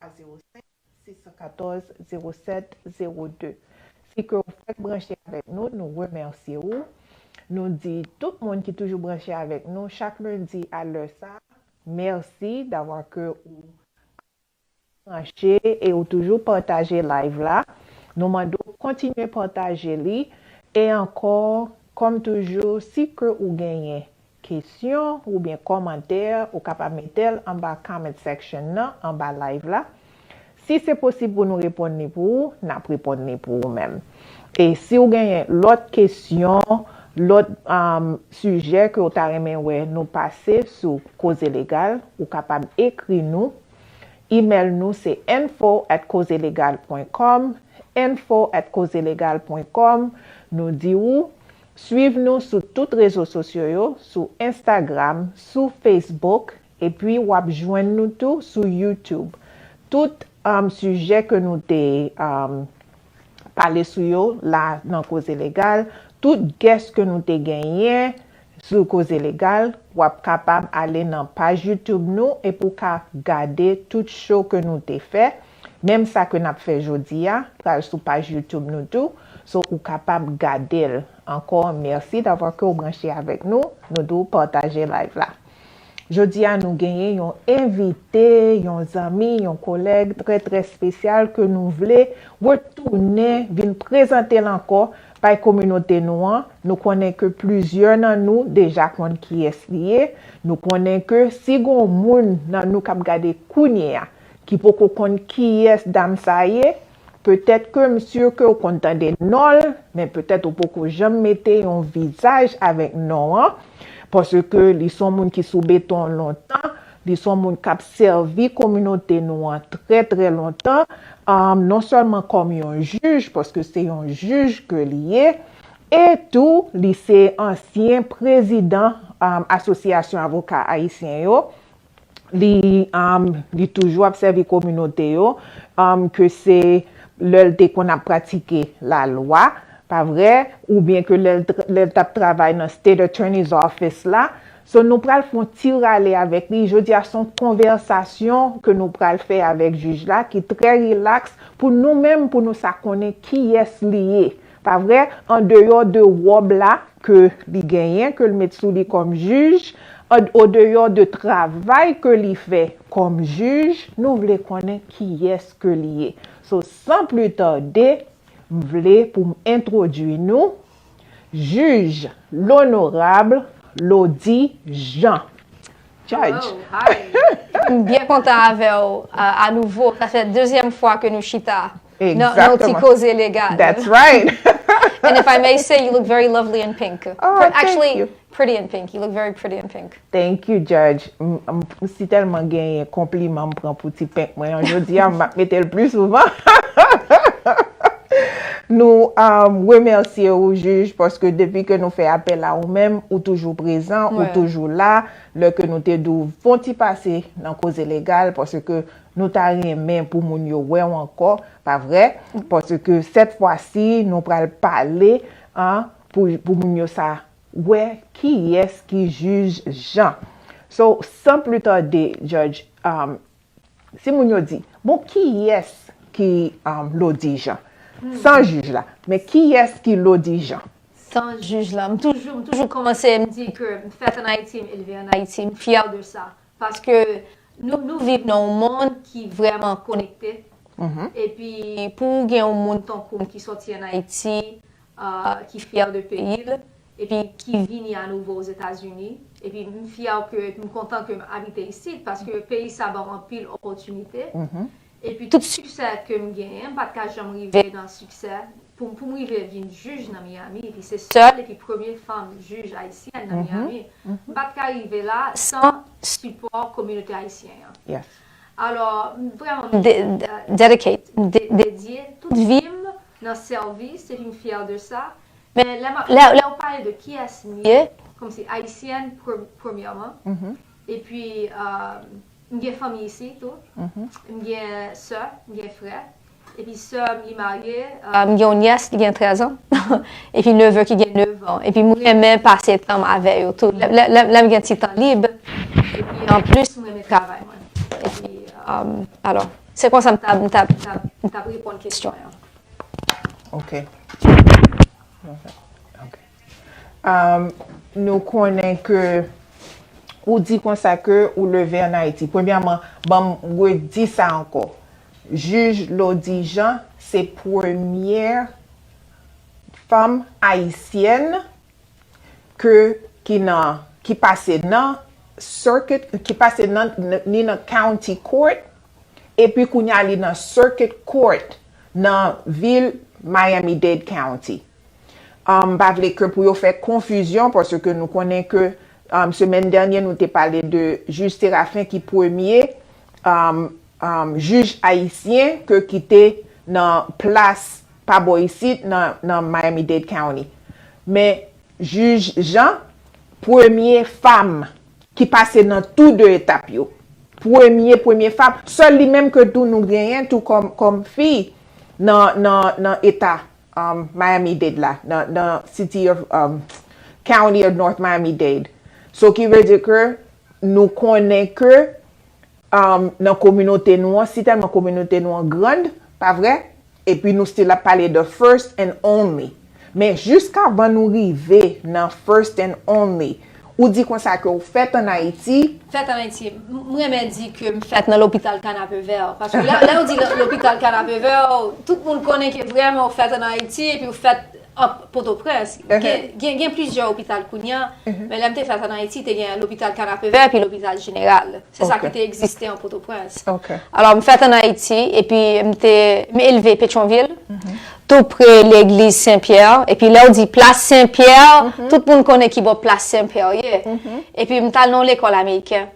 a 05 614 07 02 si ke ou fèk branche avèk nou nou remèsye ou nou di tout moun ki toujou branche avèk nou chak lendi a lè sa mèsi davwa ke ou branche e ou toujou pataje live la nou mande w kontinye pataje li e ankò kòm toujou si ke ou genyen Kesyon oubyen kòmantè ou kapab metel anba comment section nan anba live la si se posib pou nou reponn li pou ou nap reponn li pou ou menm e si ou genyen lòt kesyon lòt sijè ke ou ta renmen wè nou pase sou koze legal ou kapab ekri nou email nou se info at kozelegal pwen kòm info at kozelegal pwen kòm nou di ou Swiv nou sou tout rezo sosyo yo sou Instagram, sou Facebook epi wap jwenn nou tou sou YouTube. Tout sijè ke nou te pale sou yo la nan Koze Legal, tout guest ke nou te genyen sou Koze Legal, wap kapab ale nan paj YouTube nou epi w ka gade tout show ke nou te fè. Menm sa ke nap fè jodi a pral sou paj YouTube nou tou so ou kapab gadel ankò merci d'avoir ke ou branche avèk nou nou di w pataje live la jodi a nou genyen yon envite yon zanmi yon kolèg trè trè spesyal ke nou vle retounen vin prezantel ankò bay kominote nou an nou konnen ke plizyè nan nou deja konn kiyès li ye nou konnen ke si gon moun nan nou kap gade kounyea ki poko konn kiyès dam sa ye, petèt ke m sur ke w konn tande non l, men petèt ou poko janm mete yon vizaj avèk non an, paske li son moun ki sou beton lontan, li son moun kap sèvi kominote nou an trè trè lontan, non sèlman kòm yon jij, paske se yon jij ke li ye, e tou li se ansyen prezidan Asosyasyon Avoka Ayisyen yo, li toujou ap sèvi kominote yo, ke se lè l te konn ap pratike lalwa, pa vre, oubyen ke lè l t ap travay nan State Attorney's Office la. So, nou pral fè yon ti rale avèk li. Jodi a, se yon konvèsasyon ke nou pral fè avèk jij la ki trè rilaks pou nou menm pou nou sa konnen kiyès li ye. Pa vre, an deyò de wòb la ke li genyen, ke l met sou li kòm jij, o deyò de travay ke li fè kòm jij, nou vle konnen kiyès ke li ye. So, san pli tade, m vle pou m entwodui nou, Jij Lonorab Lody Jean. Judge. M byen kontan avè w anouvo. Sa fè dezyèm fwa ke nou chita. Nan yon ti koze legal. That's right. And if I may say, you look very lovely in pink. Oh, thank you. Actually, pretty in pink. You look very pretty in pink. Thank you, Judge. M si telman genyen konpliman m pran pou ti pink mwen an. Jodi a, m ap mete l pli souvan. Nou remercie ou, Juge, paske depi ke nou fè apèl a ou menm, ou toujou prezan, ou toujou la. Lè ke nou te di w fon ti pase nan koze legal, paske Nou ta renmen pou moun yo wè w ankò, pa vre? Paske sèt fwa si nou pral pale an pou moun yo sa wè kiyès ki jij Jan. So san pli tande Judge si moun yo di bon kiyès ki Lodi Jan? San jij la men kiyès ki Lodi Jan? San jij la. M toujou m toujou kòmanse m di ke m fèt an Ayiti, m elve an Ayiti, m fyè de sa. Paske nou viv nan yon mond ki vrèman konekte. Epi pou ou gen yon moun tankou m ki sòti an Ayiti, ki fyè de peyi l, epi ki vini anouvo Ozetazini, epi m fyè ke, m kontan ke m abite isit, paske peyi sa ban m anpil opòtinite, Epi tout siksè kem genyen m pat ka janm rive nan siksè pou poum rive vin jij nan Miami epi se sèl epi premye fanm jij ayisyèn nan Miami m pat ka rive la san sipò kominote ayisyen an alò m vrèman m dedicate m dedye tout vim nan sèvis epi m fyè de sa men lè map lè ou pale de kiyès m ye kòmsi ayisyèn premyèman epi M gen fanmi isi tou. M gen sè, m gen frè. Epi sè m li marye. M gen yon nyès ki gen 13 an. Epi neve ki gen 9 an. Epi m renmen pase tan m avè yo tou. Lè m gen ti tan lib. Epi anplis m renmen travay mwen. Epi alò. Se konsa m ta m ta m ta reponn kesyon an. Ok. Ok. Nou konnen ke ou di konsa ke ou leve an Ayiti. Premyèman, ban m redi sa ankò. Jij Lody Jean se premye fanm ayisyèn ke ki nan, ki pase nan circuit, ki pase nan, ni nan county court, epi kounye a li nan circuit court nan vil Miami-Dade County. M pa vle ke pou yo fè konfizyon paske nou konnen ke semèn dènye nou te pale de Jij Séraphin ki premye jij ayisyen ke ki te nan plas pa bò isit nan Miami-Dade County. Men Jij Jean premye fam ki pase nan tou 2 etap yo. Premye premye fam. Sèl li menm ke tou nou genyen tou kòm fi nan eta Miami-Dade la, nan city of, county of North Miami-Dade. So ki vle di ke nou konnen ke nan kominote nou an, si tèlman kominote nou an grand, pa vre? Epi nou still ap pale de first and only. Men jiskavan nou rive nan first and only, Ou di konsa ke ou fèt an Ayiti? Fèt an Ayiti. M renmen di ke m fèt nan lopital Kanapevè. Paske lè ou di lopital Kanapevè, tout moun konnen ke vreman ou fèt an Ayiti epi ou fèt an Potoprens. Gen plizyè lopital kounye an, men lè m te fèt an Ayiti, te gen lopital Kanapevè epi lopital Jeneral. Se sa ki te egziste an Potoprens. Alò, m fèt an Ayiti, epi m te, m elve Petyonvil, tou pre legliz Sen Pyè, epi lè ou di plas Sen Pyè, tout moun konnen ki bò plas Sen Pyè ye. Epi m t al nan yon lekòl ameriken,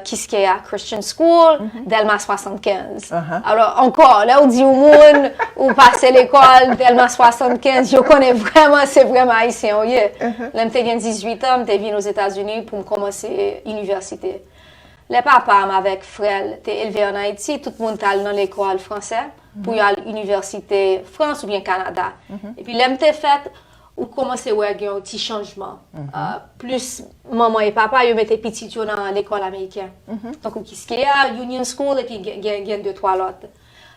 Kiskeya Christian School, Dèlma 75. Alò, ankò, lè ou di yon moun, ou pase lekòl Dèlma 75, yo konnen vrèman se vrèman Ayisyen ou ye. Lè m te gen 18 an, m te vin Ozetazini pou m kòmanse inivèsite. inivèsite. Lè papa m avèk frè l te elve ann Ayiti, tout moun t al nan lekòl fransè pou yo al inivèsite Frans oubyen Kanada. Epi lè m te fèt, ou kòmanse wè gen yon ti chanjman. Plis manman e papa yo mete pitit yo nan lekòl ameriken. Tankou Kiskeya, Union School epi gen de twa lòt.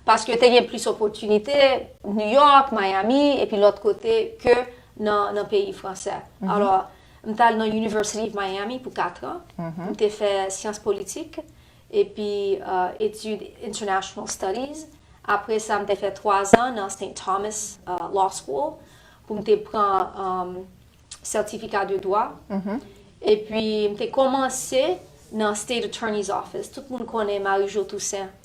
Paske te gen plis opòtinite Nouyòk, Mayami epi lòt kote ke nan peyi fransè. Alò. M t al nan University of Miami pou katran pou m te fè syans politik epi etid International Studies. Apre sa, m te fè twazan nan St. Thomas Law School pou m te pran sètifika de dwa. Epi, m te kòmanse nan State Attorney 's Office. Tout moun konnen Marie-Jo Toussaint.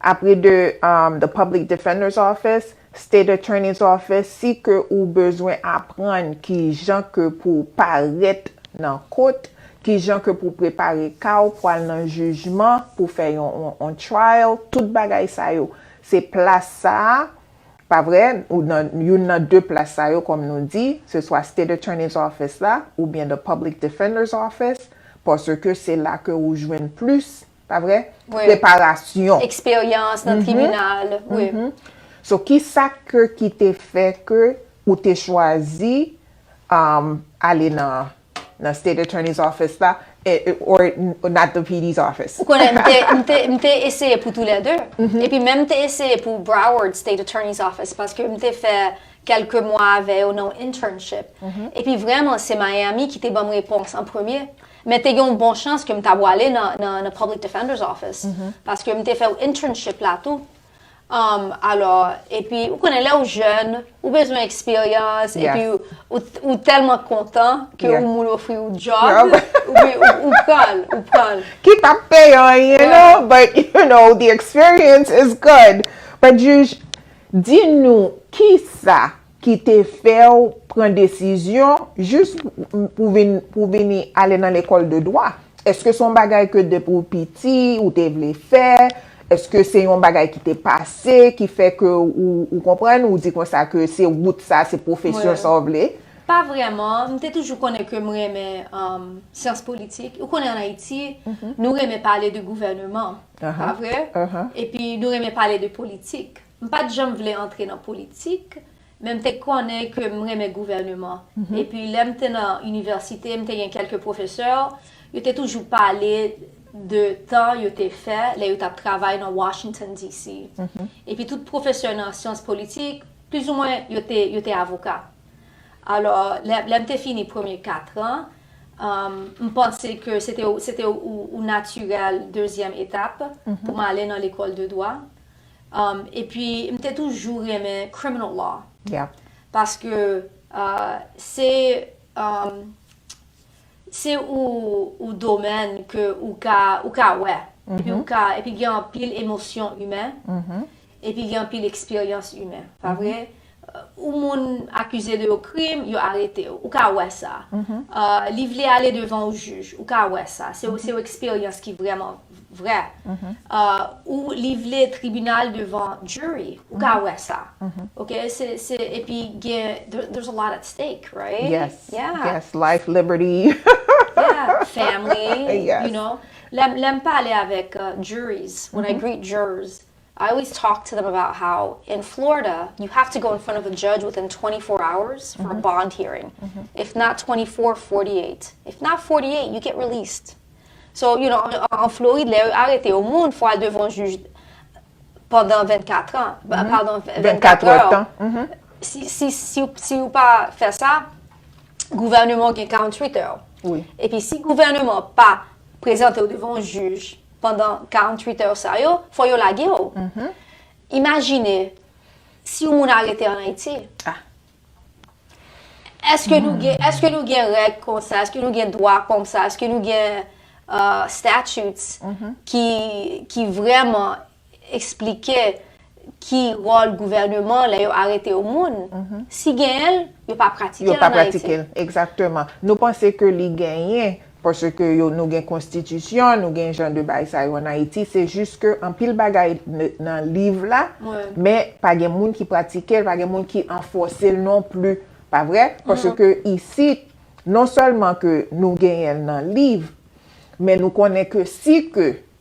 Apre de The Public Defender's Office, State Attorney's Office, si ke ou bezwen aprann kijan ke pou w parèt nan kot, kijan ke pou w prepare ka w pwal nan jijman, pou fè yon on trial, tout bagay sa yo, se plas sa a, pa vre, ou nan youn nan de plas sa yo kòm nou di, se swa State Attorney's Office la, oubyen The Public Defender's Office, paske se la ke ou jwenn plis Pa vre? Preparasyon. Eksperyans nan tribinal. Wi. So ki sa ke ki te fè ke ou te chwazi ale nan State Attorney's Office la or not the PD's Office? Ou konnen m te eseye pou tou lè 2. E pi menm m te eseye pou Broward State Attorney's Office paske m te fè kelke mwa avè yo nan yon internship. E pi vreman se Miami ki te banm repons an premye. Men te gen yon bon chans ke m ta bwale nan Public Defender's Office, paske m te fè yon internship la tou. Alò, epi, ou konnen lè ou jèn, ou bezwen eksperyans, epi ou tèlman kontan ke yon moun ofri yon job, ou pran l, ou pran l. Ki pa p peye anyen non, but you know, the experience is good. But Juge, di nou, kisa ki te fè w pran desizyon jis pou vin pou vini ale nan lekòl de dwa? Eske se yon bagay ke depi w piti ou te vle fè? Eske se yon bagay ki te pase ki fè ke ou ou konprann ou di konsa ke se wout sa se pwofesyon sa w vle? Pa vrèman, m te toujou konnen ke m renmen syans politik. Ou konnen an Ayiti, nou renmen pale de gouvèneman, pa vre? Epi nou renmen pale de politik. M pat janm vle antre nan politik, men m te konnen ke m renmen gouvèneman. Epi lè m te nan inivèsite, m te gen kèlke pwofesè, yo te toujou pale de tan yo te fè lè yo t ap travay nan Washington DC. Epi tout pwofesè nan syans politik, plizoumwen yo te avoka. Alò, lè m te fini premye katran, m panse ke se te yon natirèl dezyèm etap pou m ale nan lekòl de dwa. Epi m te toujou renmen criminal law. Paske se se ou domèn ke ou ka ou ka wè. Epi ou ka epi gen anpil emosyon imen. Epi gen anpil eksperyans imen. Pa vre? Ou moun akize de yo krim, yo arete ou. Ou ka wè sa. Li vle ale devan ou jij. Ou ka wè sa. Se yon eksperyans ki vrèman vrè. Ou li vle tribinal devan jury. Ou ka wè sa. Ok? Se, e pi gen, there's a lot at stake, right? Yes. Yeah. Yes. Life, liberty. Yeah. Family. Yes. You know? Lè m pale avèk juries, when I greet jurors, I always talk to them about how in Florida you have to go in front of a judge within 24 hours for a bond hearing. If not 24, 48. If not 48, you get released. So, you know, en Floride, lè yo arete yo moun, fò al devan juj pandan 24 an, pardon, 24 heures. Si ou pa fè sa, gouvernement gen 48 heures. Epi si gouvernement pa prezante yo devan juj, pandan 48 èr sa yo, fò yo lage w. Imajine, si yon moun arete an Ayiti, eske nou gen, eske nou gen règ konsa, eske nou gen dwa konsa, eske nou gen statutes ki, ki vrèman eksplike ki wòl gouvèneman lè yo arete yon moun. Si genyen l, yo pa pratike l an Ayiti. Yo pa pratike l, egzakteman. Nou panse ke li genyen, paske nou gen konstitisyon, nou gen jan de bagay sa yo an Ayiti, se jis ke anpil bagay nan liv la, men pa gen moun ki pratike l, pa gen moun ki anfòse l non pli. Pa vre? Paske isit, non sèlman ke nou genyen l nan liv, men nou konnen ke si ke.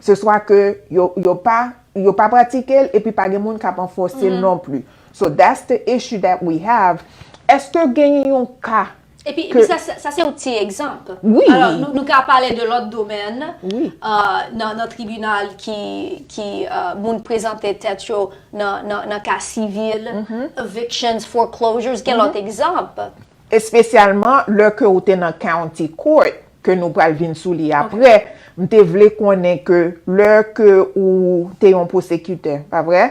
Se swa ke yo pa yo pa pratike l epi pa gen moun kap anfòse l non pli. So that's the issue that we have. Eske genyen yon ka ke. Epi sa se yon ti egzanp. Wi. Alò nou ka pale de lòt domèn nan tribinal ki moun prezante tèt yo nan ka sivil, evictions, foreclosures, gen lòt egzanp. Espesyalman lè ke ou te nan County Court, ke nou pral vin sou li apre, m te vle konnen ke lè ke ou te yon pwosekitè, pa vre?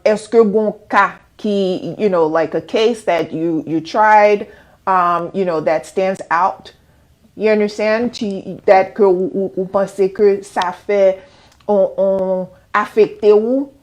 Eske gon ka ki, you know, like a case that you tried, you know, that stands out, you understand, that ke ou panse ke sa fè on afekte ou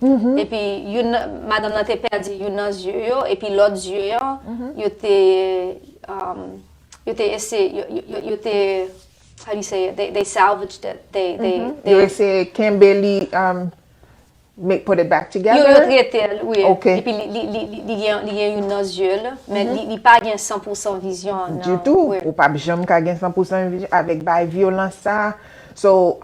epi youn nan, madanm nan te pèdi youn nan zye yo, epi lòt zye an, yo te, yo te ese, yo te, how do you say it, they salvaged it, they, they, they. Yo ese kenbe li, make, put it back together? Yo, yo trete l, wi. Ok. Epi li, li, li, li gen, li gen youn nan zye l, men li, li pa gen san pou san vizyon an, nan. Ditou, ou pap janm ka gen san pou san vizyon avèk bay vyolans sa a. So,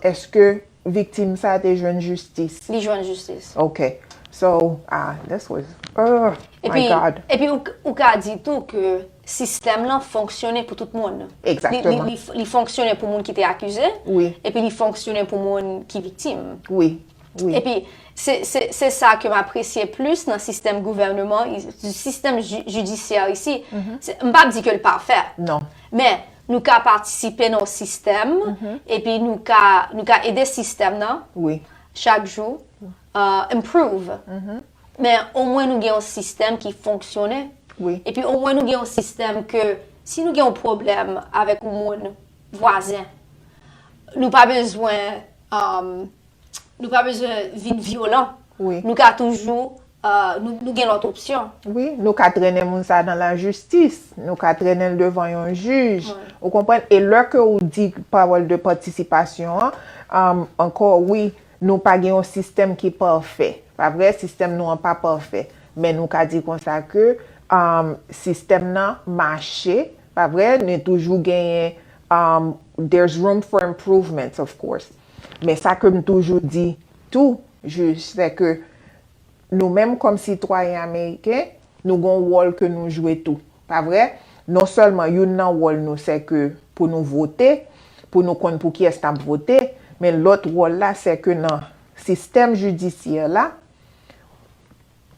èske. Viktim sa te jwenn jistis? Li jwenn jistis. Ok. So, ah, this was, ugh, my God. Epi, epi ou ka di tou ke sistèm lan fonksyone pou tout moun. Exactement. Li fonksyone pou moun ki te akize. Wi. Epi li fonksyone pou moun ki viktim. Wi, wi. Epi, se, se, se sa ke m apresye plis nan sistèm gouvèneman, sistèm jidisyè isi. M pa di ke l pafè. Non. Men, nou ka patisipe nan yon sistèm, epi nou ka, nou ka ede sistèm nan, chak jou, improve. Men, omwen nou gen yon sistèm ki fonksyone. Epi omwen nou gen yon sistèm ke, si nou gen yon pwoblèm avèk yon moun, vwazen, nou pa bezwen, Nou pa bezwen vin vyolan. Wi. Nou ka toujou, nou gen lòt opsyon. Wi, nou ka trennen moun sa a dan la jistis. Nou ka trennen l devan yon jij. Wi. Ou konprann? E lè ke ou di pawòl de patisipasyon an, ankò wi, nou pa gen yon sistèm ki pafè. Pa vre? Sistèm nou an pa pafè. Men nou ka di konsa ke sistèm nan mache. Pa vre? Men toujou genyen, there's room for improvements of course. Men sa ke m toujou di tou, jij, sè ke nou menm kòm sitwayen ameriken, nou gon wòl ke nou jwe tou. Pa vre? Non sèlman youn nan wòl nou sè ke pou nou vote, pou nou konn pou kiyès n ap vote, men lòt wòl la sè ke nan sistèm jidisyè la,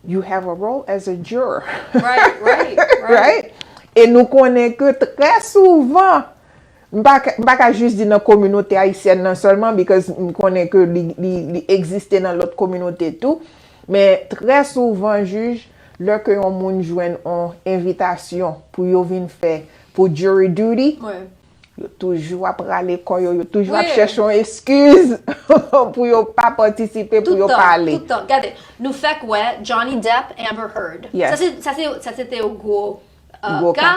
You have a role as a juror. Right, right, right. E nou konnen ke trè souvan, m pa ka jis di nan kominote ayisyèn nan sèlman, because m konnen ke li egziste nan lòt kominote tou, men trè souvan jij, lè ke yon moun jwenn yon envitasyon pou yo vin fè, pou jury duty, Yo toujou ap rale kò yo, yo toujou ap chèche yon eskiz pou yo pa patisipe, pou yo pa ale. Tout tan, tout tan. Gade, nou fèk wè Johnny Depp, Amber Heard. Sa se te yon gwo ka.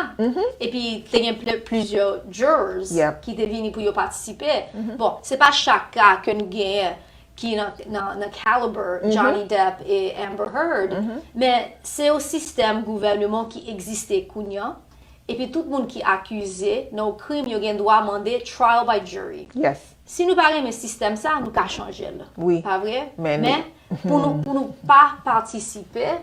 E pi te gen plizyè jurors ki te vini pou yo patisipe. Bon, se pa chak ka ke nou genyen ki nan caliber Johnny Depp e Amber Heard. Men, se yon sistèm gouvèneman ki egziste kounye an. epi tout moun ki akize nan yon krim yo gen dwa mande trial by jury. Yes. Si nou pa renmen sistèm sa, nou ka chanje l. Wi. Pa vre? Men li. Men, pou nou, pou nou pa patisipe,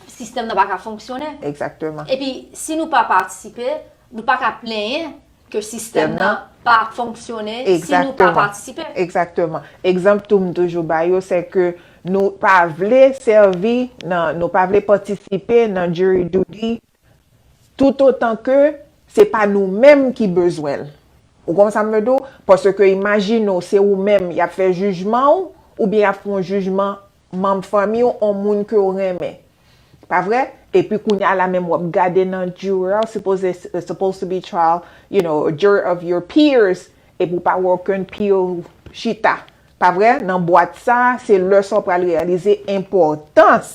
sistèm nan pa ka fonksyone. Egzakteman. Epi, si nou pa patisipe, nou pa ka plenyen. Ke sistèm nan pa ap fonksyone si nou pa patisipe. Egzakteman. Egzanp tou m toujou bay yo se ke nou pa vle sèvi nan, nou pa vle patisipe nan jury duty toutotan ke se pa nou menm ki bezwen l. Ou konprann sa m vle di w? Paske imajine w se ou menm y ap fè jijman w oubyen y ap fè yon jijman manm fanmi w on moun ke w renmen pa vre epi kounya la menm wap gade nan jurè w sipoze supposed to be trial you know a jury of your peers epi w pa wè okenn peer w chita pa vre nan bwat sa se lè sa w pral reyalize enpòtans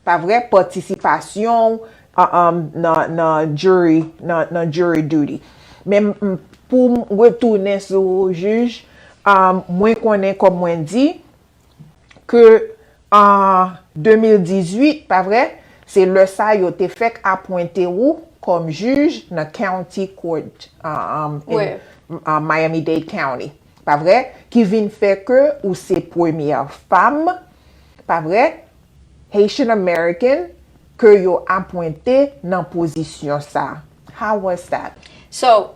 pa vre patisipasyon w nan jury nan jury duty men poum retounen sou jij mwen konnen kòm mwen di. ke an 2018, pa vre? Se lè sa yo te fèk apwente ou kòm jij nan County Court in Miami-Dade County, pa vre? Ki vin fè ke ou se premyè fam, pa vre? Haitian American ke yo apwente nan pozisyon sa. How was that? So,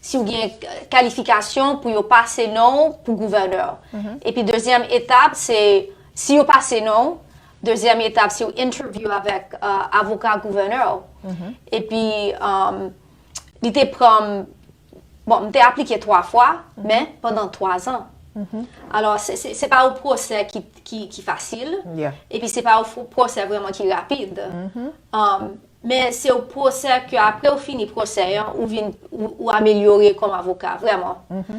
si w gen kalifikasyon pou yo pase non w pou gouvènè. Epi dezyèm etap se, si yo pase non w, dezyèm etap se yon entèvyou avèk avoka gouvènè w. Epi li te pran m, bon, m te aplike twa fwa, men pandan twa zan. Alò, se pa yon pwosè ki fasil, epi se pa yon pwosè vrèman ki rapid. Men se ou pwosè ke apre ou fini pwosè an, ou vin, ou amelyore kòm avoka, vrèman.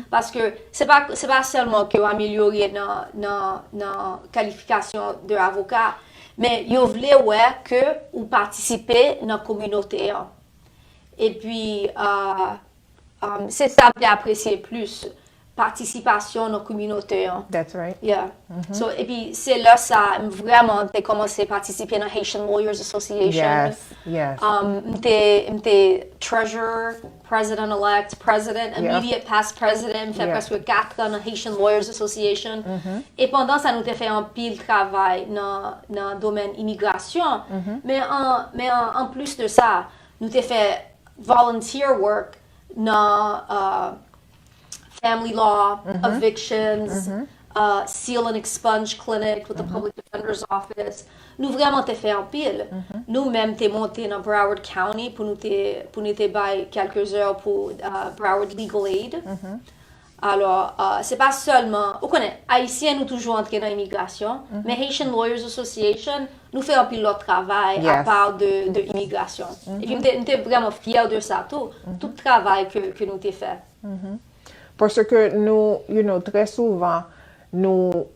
Paske, se pa, se pa sèlman ke ou amelyore nan, nan, nan kalifikasyon de avoka, men yo vle wè ke ou patisipe nan kominote an. Epi, Se sa mte apresye plis. Patisipasyon nan kominote an. That's right. Yeah. So epi se lè sa m vrèman te kòmanse patisipe nan Haitian Lawyers Association. Yes. Yes. Mte, mte Treasurer, President Elect, President, Immediate Past President, m fè prèske 4 an nan Haitian Lawyers Association. E pandan sa nou te fè anpil travay nan, nan domèn imigrasyon. Men an, men an, anplis de sa, Nou te fè volunteer work nan family law, evictions, seal and expunge clinic with the public defender's office. Nou vreman te fè anpil. Nou menm te monte nan Broward County pou nou te bay kelke zè pou Broward Legal Aid. Alò, se pa sèlman, ou konnen, Ayisyen nou toujou antre nan imigrasyon, men Haitian Lawyers Association, nou fè anpil lòt travay apa de imigrasyon. Epi m te vrèman fyè de sa tou, tout travay ke nou te fè. Paske nou, you know, trè souvan, nou.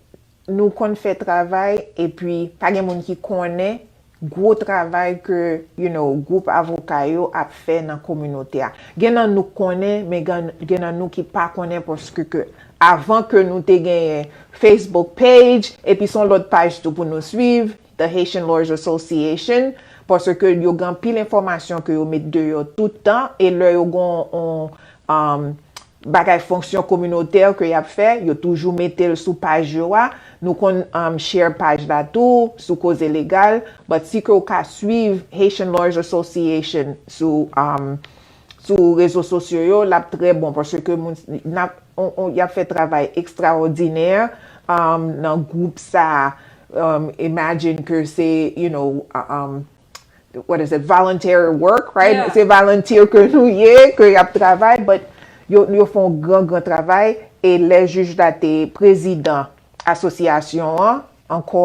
Nou konn fè travay epi pa gen moun ki konnen gwo travay ke you know gwoup avoka yo ap fè nan kominote a. Gen nan nou k konnen men gen nan nou ki pa konnen paske ke avan ke nou te genyen Facebook page epi son lòt paj tou pou nou swiv The Haitian Lawyers Association paske ke yo gen anpil enfòmasyon ke yo met deyò tout tan e lè yo gen yon bagay fonksyon kominotè ke yap fè yo toujou metel sou paj yo a nou konn share paj la tou sou koze legal but si ke ou ka swiv Haitian Lawyers Association sou sou rezo sosyo yo lap trè bon paske moun nap yap fè travay ekstraòdinè nan gwoup sa imagine ke se you know what is it, voluntary work, right? Se volunteer ke nou ye, ke y ap travay, but yo fon gran gran travay, e lè jij la te prezidan asosyasyon an, ankò,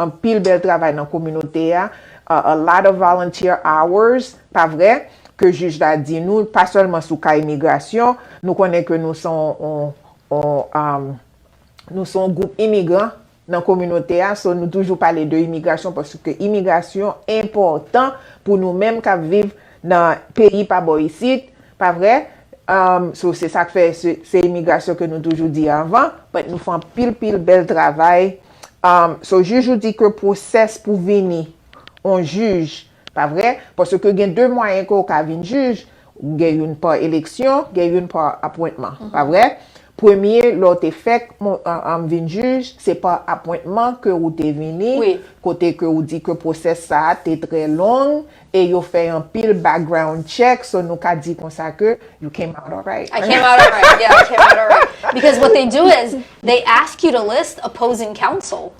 anpil bèl travay nan kominote a, a lot of volunteer hours, pa vre, ke jij la di nou, pa sèlman sou ka imigrasyon, nou konnen ke nou son, nou son gwoup imigran, nan kominote a so nou toujou pale de imigrasyon paske imigrasyon enpòtan pou nou menm k ap viv nan peyi pa bò isit pa vre so se sa k fè se imigrasyon ke nou toujou di avan but nou fè anpil pil bèl travay so jij ou di ke pwosès pou vini yon jij Pa vre? Paske gen de mwayen ke w ka vin jij, gen youn pa eleksyon, gen youn pa apwentman. Pa vre? Premye, lè w te fèk vin jij, se pa apwentman ke ou te vini, kote ke ou di ke pwosès sa a te trè long, e yo fè anpil background check, so nou ka di konsa ke you came out alright. I came out alright, yeah, I came out alright. Because what they do is, they ask you to list opposing counsel.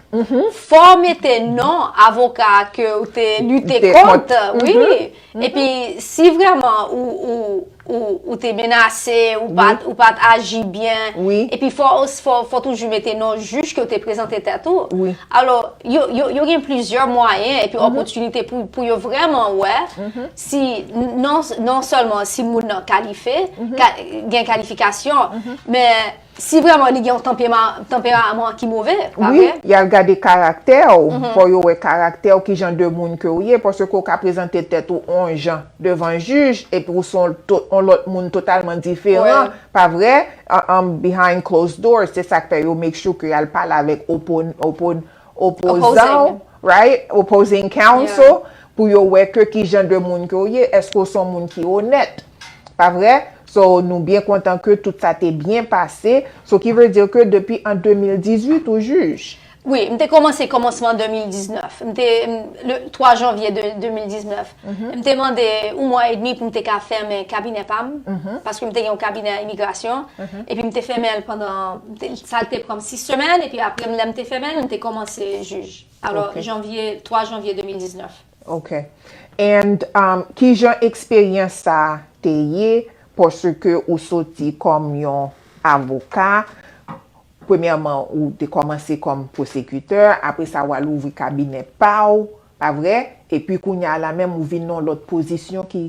Fò w mete non avoka ke ou te lite kont, wi. E pi, si vreman ou te menase, ou pa t aji byen, e pi fò w toujou mete non jij ke ou te prezante tèt ou. Alò, yo gen plizyè mwayen e pi opotinite pou yo vreman wè si non sèlman si moun nan kalife, gen kalifikasyon, men... Si vreman li gen yon tanperaman ki move, pa vre? Wi, yal gade karaktè w, fò yo wè karaktè w ki jan de moun ke w ye, paske w ka prezante tèt ou on jan devan jij epi w son on lòt moun totalman diferan, pa vre? Behind closed doors, se sak fè yo make sure ke yal pale avèk opozan w, right? Opposing counsel, pou yo wè ke ki jan de moun ke w ye, eske w son moun ki onèt. Pa vre? So nou byen kontan ke tout sa te byen pase, so ki vle di ke depi an 2018 ou jij? Wi, m te kòmanse kòmansman 2019. M te, le 3 janvye 2019. M te mande yon mwa edmi pou m te ka fèmen kabinè pa m, paske m te gen yon kabinè imigrasyon, epi m te fèmen l pandan, sa te pran m 6 semèn, epi apre lè m te fèmen l, m te kòmanse jij. Alò, janvye, 3 janvye 2019. Ok and kijan eksperyans sa te ye paske ou soti kòm yon avoka premyèman ou te kòmanse kòm pwosekitè apre sa ou al ouvri kabinè pa ou pa vre epi kounya la menm ou vin nan lòt pozisyon ki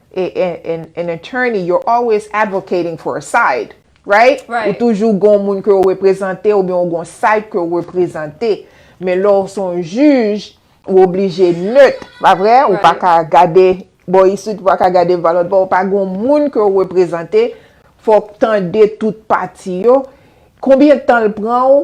an attorney you're always advocating for a side right ou toujou gon moun ke ou reprezante ou byen ou gon side ke ou reprezante men lè ou son jij ou oblije neut pa vre ou pa ka gade bo isit ou pa ka gade bo lòtbò ou pa gon moun ke ou reprezante fòk tande tout pati yo konbyen tan l pran ou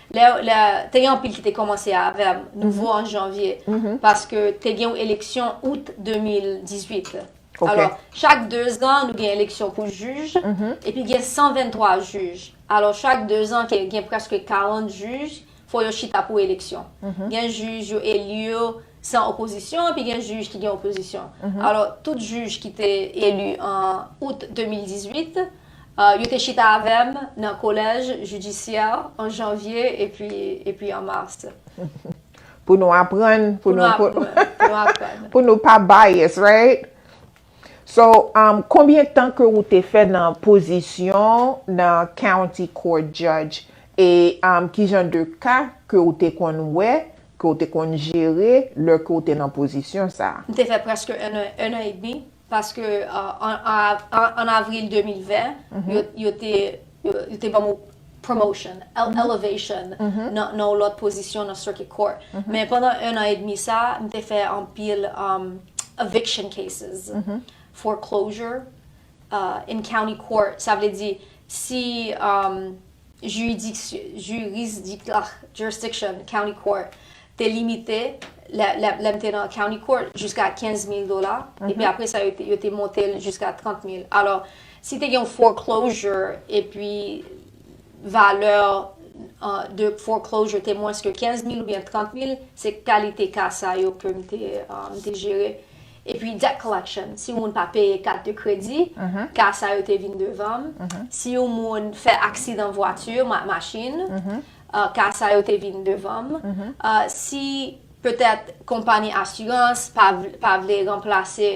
Lè, lè, te gen anpil ki te kòmanse avè m, nouvo an janvye, paske te gen yon eleksyon out 2018. Alò, chak 2 zan, nou gen eleksyon pou jij, epi gen 123 jij. Alò, chak 2 zan, gen prèske 40 jij, fò yo chita pou eleksyon. Gen jij yo eli yo san opozisyon, epi gen jij ki gen opozisyon. Alò, tout jij ki te eli an out 2018, Yo te chita avè m nan kolèj jidisyè an janvye epi an mas. Pou nou aprann, pou nou aprann. Pou nou pa bias, right? So, konbyen tan ke ou te fè nan pozisyon nan county court judge e kijan de ka ke ou te konn wè, ke ou te konn jere lè ke ou te nan pozisyon sa? M te fè prèske 1 an edmi. Paske an avril 2020, yo te ban mwen promotion, elevation, nan yon lòt pozisyon nan circuit court. Men pandan 1 an edmi sa, m te fè anpil eviction cases, foreclosure, in county court. Sa vle di, si jiridiksyon, jurisdic ah, jurisdiction, county court, te limite, lè, lè, lè m te nan county court, jiska 15 mil dola, epi apre sa yo te, yo te monte l jiska 30 mil. Alò, si te gen yon foreclosure, epi valè de foreclosure te mwens ke 15 mil oubyen 30 mil, se kalite ka sa yo ke m te, m te jere. Epi debt collection, si yon moun pa peye kat de kredi, ka sa yo te vin devan m, si yon moun fè aksidan vwati, machin, ka sa yo te vin devan m, si petèt konpani asirans pa vle ranplase.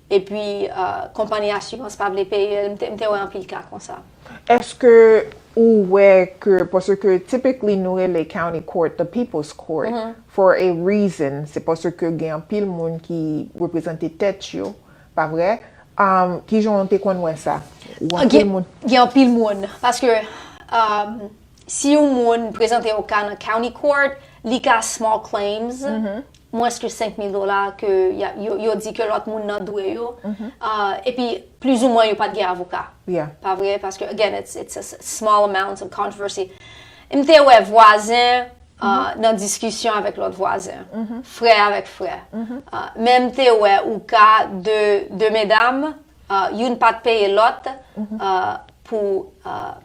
Epi konpani asirans pa vle peye l, m te wè anpil ka konsa. Eske ou wè ke, paske typically nou rele county court the people's court for a reason, se paske gen anpil moun ki reprezante tèt yo, pa vre? Kijan w te konn wè sa? Gen anpil moun, paske si yon moun prezante yon ka nan county court, li ka small claims, mwens ke 5 mil dola ke yo di ke lòt moun nan dwe yo, epi plizoumwen yo pat gen avoka. Pa vre? Paske, again, it's a small amount of controversy. M te wè vwazen nan diskisyon avèk lòt vwazen, frè avèk frè. Men m te wè ouka de medam Youn pa t peye lòt pou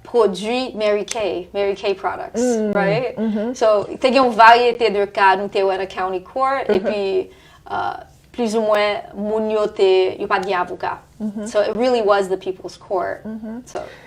pwodui Mary Kay, Mary Kay Products, right? So, te gen yon varyete de ka nou te wè nan County Court, epi plizoumwen moun yo te, yo pa t gen avoka. So, it really was the people's court.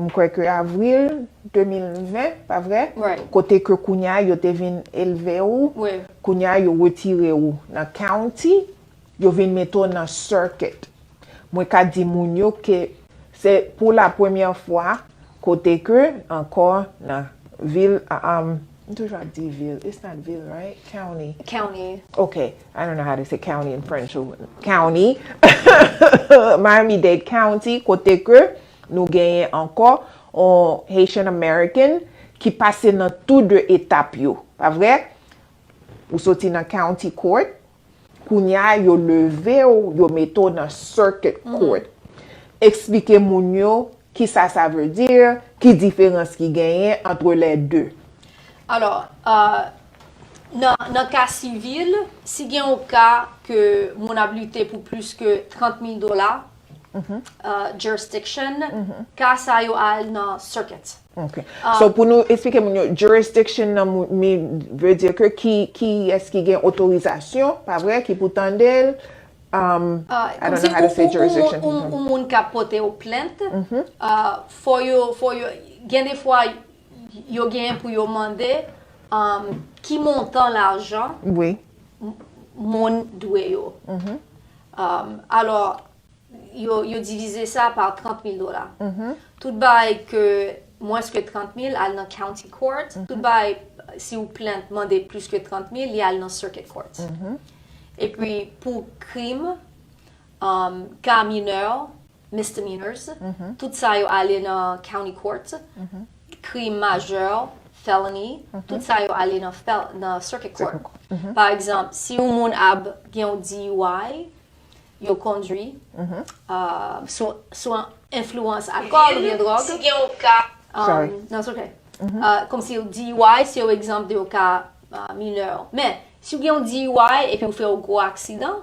m kwè ke avril 2020, pa vre? Kote ke kounye a yo te vin elve ou, kounye a yo retire ou nan county, yo vin mete ou nan circuit. Mwen ka di moun yo ke se pou la premye fwa kote ke ankò nan vil, m toujou ap di vil, it's not vil right? County. County. Ok, I don't know how to say county in French. County, Miami-Dade County, kote ke Nou genyen ankò on Haitian American ki pase nan tou 2 etap yo, pa vre? Ou soti nan County Court, kounya yo leve w, yo mete w nan Circuit Court. Eksplike moun yo ki sa sa vle di, ki diferans ki genyen antre lè 2. Alò, nan ka sivil, si gen on ka ke moun ap lite pou plis ke 30 mil dola, jurisdiction, ka sa yo al nan circuit. Ok. So pou nou esplike moun yo, jurisdiction nan veut dire ke kiyès ki gen otorizasyon, pa vre, ki pou tande l, I don't know how to say jurisdiction. Kòmsi pou yon moun ka pote yon plent, fò yo, gen de fwa, yo genyen pou yo mande ki montan lajan moun dwe yo. Alò, yo divize sa pa 30 mil dola. Tout bagay ke mwens ke 30 mil al nan county court, tout bagay si yon plent mande plis ke 30 mil, li al nan circuit court. E pi pou krim, ka minè, misdemeanors, tout sa yo ale nan county court, krim majè, felony, tout sa yo ale nan circuit court. Pa egzanp, si yon moun ap gen yon DUI, yo kondwi sou enfluwans alkòl oubyen dwòg. Si gen yon ka. Sorry. Non, it's okay. Kòm si yon DUI, se yon egzanp de yon ka minè. Men, si w gen yon DUI epi ou fè yon gwo aksidan,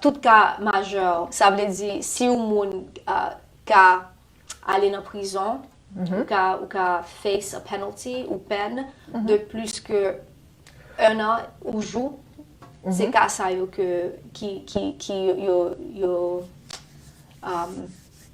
Tout ka majè, sa vle di si yon moun ka ale nan prizon, ou ka face a penalty ou pèn de plis ke 1 an ou jou, se ka sa yo ke ki yo.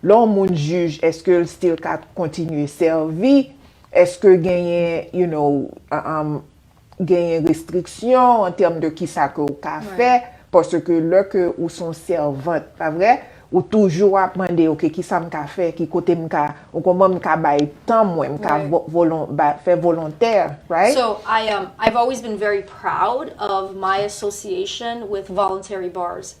Lè yon moun jij eske l still ka kontinye sèvi, eske genyen you know genyen restriksyon an tèm de kisa ke ou ka fè paske lè ke ou son sèvant pa vre ou toujou ap mande ok kisa m ka fè ki kote m ka ou konprann m ka bay tan mwen m ka fè volontè right. So I am I've always been very proud of my association with voluntary bars.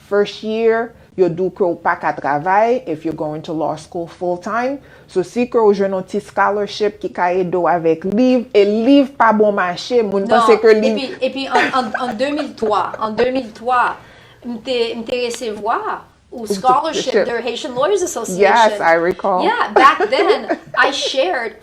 First year, yo di w ke w pa ka travay if you're going to law school full time, so si ke w jwenn yon ti scholarship ki ka ede w avèk liv, e liv pa bon mache, moun panse ke liv. Non, epi, epi an, an, an 2003, an 2003, m te, m te resevwa yon scholarship de Haitian Lawyers Association. Yes, I recall. Yeah, back then, I shared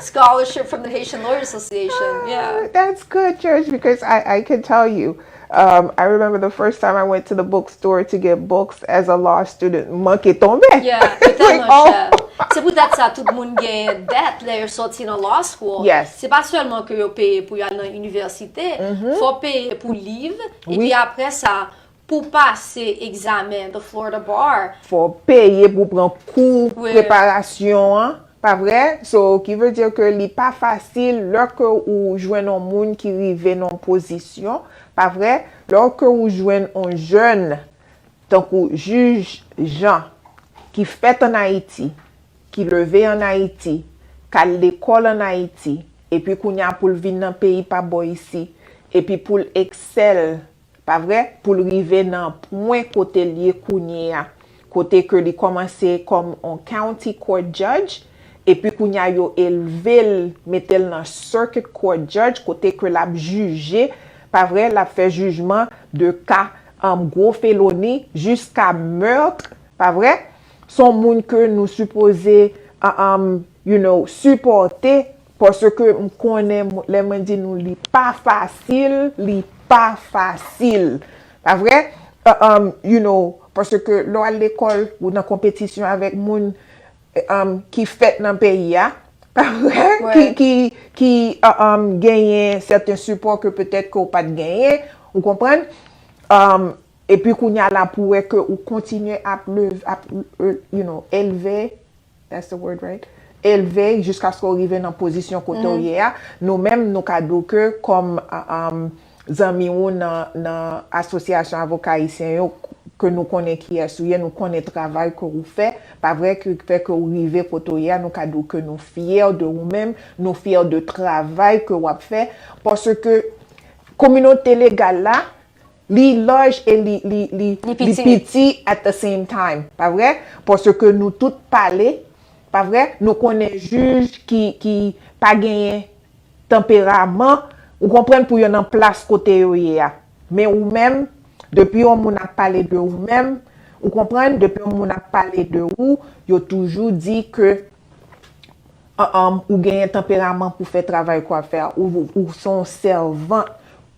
Scholarship from the Haitian Lawyer Association, yeah. Ah, that's good, Church, because I, I can tell you, um, I remember the first time I went to the bookstore to get books as a law student, manke tonbe. Yeah, e tèlman oh. chè. Se pou tèt sa tout moun gen dèt lè yo soti nan law school. Yes. Se pa sèlman ke yo peye pou yo al nan universite, mm-hmm. fò peye pou liv, epi apre sa, Pou w pase egzamen The Florida Bar. Fò w peye pou w pran kou preparasyon an, pa vre? So, ki vle di ke li pa fasil lè ke ou jwenn yon moun ki rive nan yon pozisyon, pa vre? Lè ke ou jwenn yon jèn tankou Jij Jean ki fèt an Ayiti, ki leve an Ayiti, k al lekòl an Ayiti, epi kounye a pou l vin nan peyi pa bò isi, epi pou l eksèl Pa vre? Pou l rive nan pwen kote l ye kounye a, kote ke li kòmanse kòm on County Court Judge, epi kounye a yo elve l, mete l nan Circuit Court Judge, kote ke l ap jije, pa vre, l ap fè jijman de ka gwo feloni jiska meurtre, pa vre? S on moun ke nou sipoze, you know, sipòte Paske m konnen lè mwen di nou li pa fasil, li pa fasil. Pa vre? You know, paske lè w al lekòl, ou nan konpetisyon avèk moun ki fèt nan peyi a, pa vre? Ki genyen sèten sipò ke petèt ke ou pa t genyen, ou konprann? Epi kounye a la pou wè ke ou kontinye ap elve that's the word right? elve jiskaske w rive nan pozisyon kote w ye a, nou menm nou ka di w ke kòm zanmi ou nan asosyasyon avoka ayisyen yo ke nou konnen kiyès ou ye, nou konnen travay ke ou fè, pa vre? ki fè ke ou rive kote w ye a, nou ka di w ke nou fyè de ou menm, nou fyè de travay ke w ap fè paske kominote legal la Li large e li li li li piti at the same time pa vre? Paske nou tout pale pa vre? Nou konnen jij ki ki pa genyen tanperaman ou konprann pou yo nan plas kote yo ye a. Men ou menm depi yon moun ap pale de ou menm ou konprann depi yon moun ap pale de ou yo toujou di ke Humm ou genyen tanperaman pou fè travay kwa fè a ou son sèvant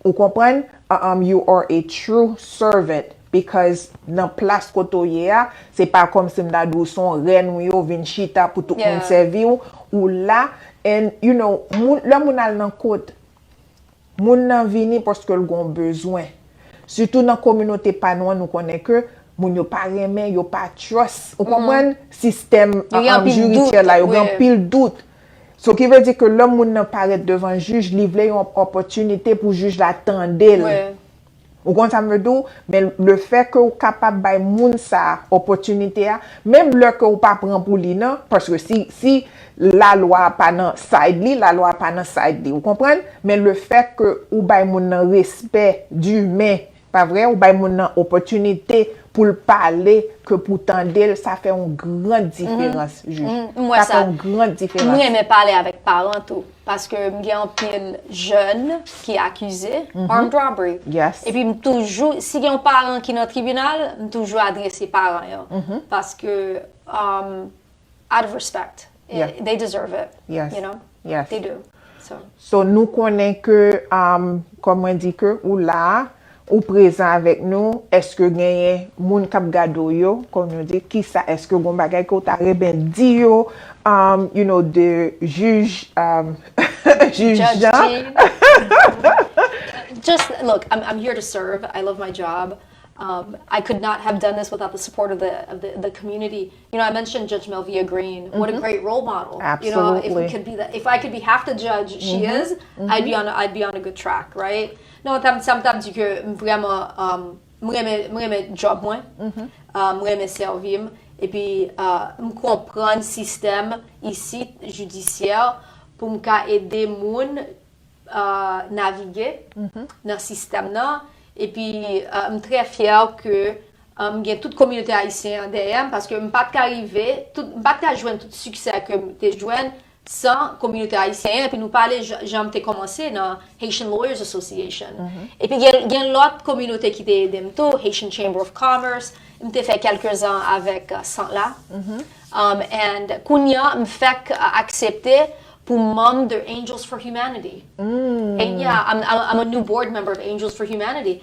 ou konprann humm you are a true servant because nan plas kote w ye a se pa kòmsi m ta di w son rèn ou ye w vin chita pou tout moun sèvi w ou la and you know lè moun al nan kot Moun nan vini paske l gon bezwen. Sitou nan kominote pa nou an nou konnen ke moun yo pa renmen, yo pa trust, ou konprann, sistèm jiridyèl la, yo gen anpil dout. So ki vle di ke lè moun nan parèt devan jij, li vle yon opòtinite pou jij la tande l. Ou konn sa m vle di w, men le fè ke ou kapab bay moun sa a opòtinite a, menm lè ke ou pa pran pou li nan, paske si, si lalwa a pa nan side li, lalwa a pa nan side li, ou konprann? Men le fè ke ou bay moun nan respè dimen, pa vre? Ou bay moun nan opòtinite pou l pale, ke pou w tande l, sa fè yon gran diferans, Jij. Sa fè yon gran diferans. M renmen pale avèk paran tou. Paske m gen anpil jèn ki akize armed robbery. E pi m toujou, si gen yon paran ki nan tribinal, m toujou adrese paran yo. Paske, out of respect, they deserve it, you know, they do. So nou konnen ke, kòm mwen di ke ou la a, Ou prezan avèk nou, eske genyen moun kap gade w yo, kòm nou di, kisa eske gon bagay ke w ta renmen di yo, you know de jij jij Jean. Just look, I'm here to serve, I love my job, I could not have done this without the support of the community, you know I mentioned Judge Melvia Green, what a great role model, you know if I could be half the judge she is, I'd be on a good track, right? Non sa m t ap di ke m vrèman m renmen djòb mwen, m renmen sèvi m, epi m konprann sistèm isit jidisyè pou m ka ede moun navige nan sistèm nan, epi m trè fyè ke m gen tout kominote ayisyen an dèyè m, paske m pa t ka rive, m pa t ka jwenn tout siksè ke m te jwenn san kominote ayisyen an epi nou pale jan m te kòmanse nan Haitian Lawyers Association epi gen lòt kominote ki te ede m tou Haitian Chamber of Commerce m te fè kèlke zan avèk sant la and kounye an m fèk aksepte pou m manm de Angels for Humanity and yeah I'm a new board member of Angels for Humanity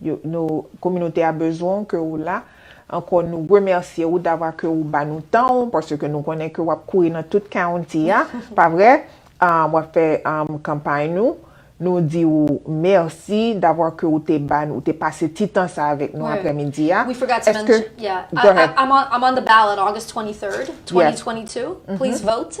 Yo nou kominote a bezwen w ke ou la ankò nou remèsye ou davwa ke ou ba nou tan ou paske nou konnen ke wap kouri nan tout county a pa vre wap fè kanpay nou nou di ou mèsi davwa ke ou te ba nou ou te pase ti tan sa avèk nou aprè midi a èske go ahead I'm on the ballot August 23 2022 please vote.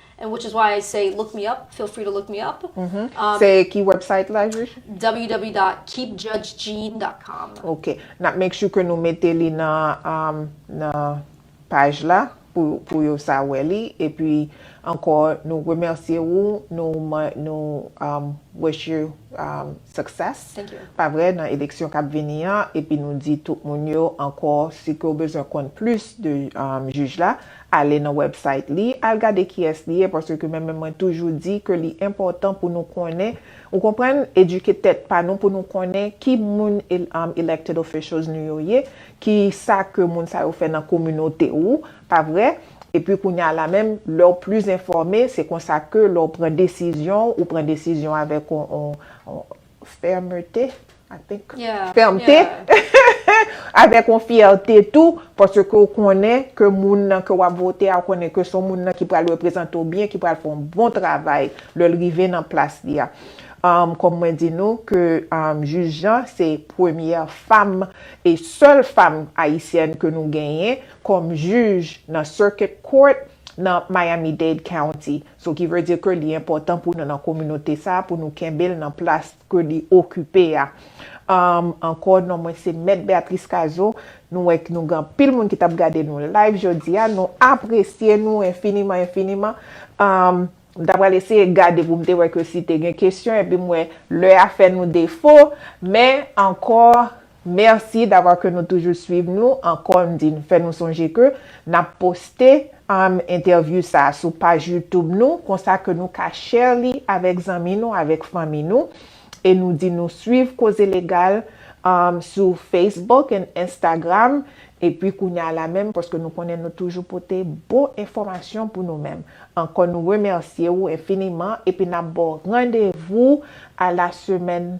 And which is why I say look me up, feel free to look me up. Se ki website la Jij? www.keepjudgejean.com Ok, nap make sure ke nou mete li nan nan paj la pou pou yo sa wè li epi ankò nou remèsye ou nou nou wish you success Thank you. pa vre nan eleksyon kap vini an epi nou di tout moun yo ankò si ke ou bezwen konn plis de jij la Ale nan website li, al gade kiyès li ye paske ke men menm mwen toujou di ke li enpòtan pou nou konnen, ou konprann, edike tèt pa nou pou nou konnen ki moun elected officials nou yo ye, ki sa ke moun sa yo fè nan kominote ou, pa vre? Epi kounye a la menm, lè ou plis enfòme, se konsa ke lè ou pran desizyon, ou pran desizyon avèk yon. fèmte, I think, fèmte, avèk yon fyète tou, paske w konnen ke moun nan ke w ap vote a, ou konnen ke se yon moun nan ki pral reprezante w byen, ki pral fè yon bon travay lè l rive nan plas li a. Kòm mwen di nou ke Jij Jean se premyè fam e sèl fam ayisyèn ke nou genyen kòm jij nan Circuit Court nan Miami-Dade County. So ki vle di ke li enpòtan pou nou nan kominote sa a, pou nou kenbe l nan plas ke li okipe a. Ankò, non mwen se Mèt Beatrice Cazeau. Nou wè ke nou gen anpil moun ki t ap gade nou live jodi a. Nou apresye nou enfiniman, enfiniman. M ta pral eseye gade pou m te wè ke si te gen kesyon, epi m wè lè a fè nou defo. Men, ankò, Merci d'avoir ke nou toujou swiv nou ankò m di n fè nou sonje ke nap poste um entèvyou sa sou paj youtube nou konsa ke nou ka share li avèk zanmi nou avèk fanmi nou e nou di nou swiv koze legal um sou facebook and instagram epi kounya la menm paske nou konnen nou toujou pote bon enfòmasyon pou nou menm ankò nou remèsye ou enfiniman epi nap baw randevou a la semaine